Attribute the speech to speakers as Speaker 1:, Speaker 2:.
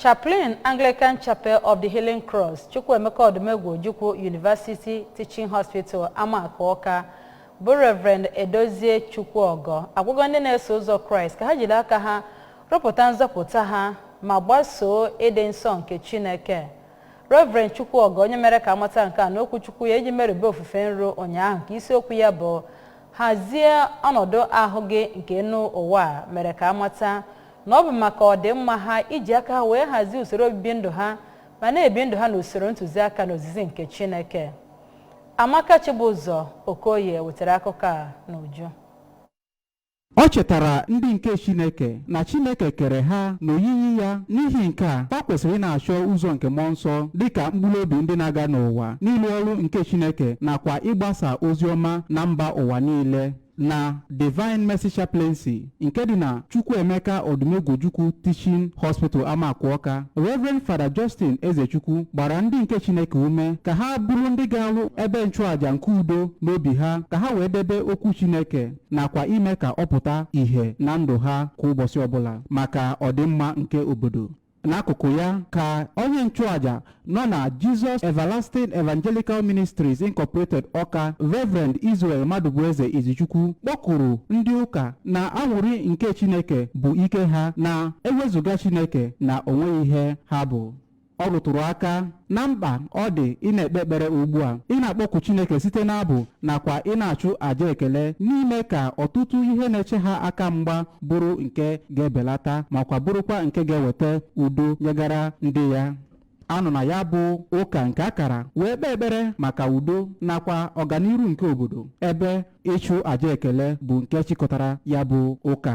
Speaker 1: Chaplain Anglican Chapel of the Healing Cross Chukwuemeka Odumegwu Ojukwu University Teaching Hospital Amaku Ọka bụ Reverend Edozie Chukwuogo agwago ndị na-eso ụzọ Kraịst ka ha jiri aka ha rụpụta nzọpụta ha ma gbasoo ịdị nsọ nke Chineke. Reverend Chukwuogo onye mere ka amata nke a n'okwu Chukwu ya eji merube ofufe nru ụnyaahụ nke isiokwu ya bụ hazie ọnọdụ ahụ gị nke enu ụwa mere ka amata na ọ bụ maka ọdịmma ha iji aka ha wee hazie usoro obibi ndụ ha ma na-ebi ndụ ha n'usoro ntụziaka na ozizi nke Chineke Amaka Chibụzọ Okoye wetara akụkọ a n'uju
Speaker 2: O chetara ndị nke Chineke na Chineke kere ha n'oyiyi ya n'ihi nke a ha kwesịrị ịna-achọ ụzọ nke mmụọ nsọ dịka mkpụrụ obi ndị na-aga n'ụwa n'ịlụ ọrụ nke Chineke nakwa ịgbasa ozi ọma na mba ụwa niile na Divine Mercy Chaplaincy nke dị na Chukwuemeka Odumegwu Ojukwu Teaching Hospital Amaku Ọka Reverend Father Justin Ezechukwu gbara ndị nke Chineke ume ka ha bụrụ ndị ga-alụ ebe nchụàja nke udo n'obi ha ka ha wee debe okwu Chineke nakwa ime ka ọ pụta ìhè na ndụ ha kwa ụbọchị ọbụla maka ọdịmma nke obodo n'akụkụ ya ka onye nchụaja nọ na Jesus Everlasting Evangelical Ministries Incorporated Ọka Reverend Israel Madubueze Izichukwu kpọkuru ndị ụka na anwụrị nke Chineke bụ ike ha na ewezụga Chineke na onweghị ihe ha bụ ọ rụtụrụ aka na mkpa ọ dị ị na-ekpe ekpere ugbu a ị na-akpọku Chineke site n'abụ nakwa ị na-achụ àjà ekele n'ime ka ọtụtụ ihe na-eche ha aka mgba bụrụ nke ga-ebelata makwa bụrụkwa nke ga-eweta udo nyegara ndị ya anọ na ya bụ ụka nke akara wee kpee ekpere maka udo nakwa ọganiru nke obodo ebe ịchụ àjà ekele bụ nke chịkọtara ya bụ ụka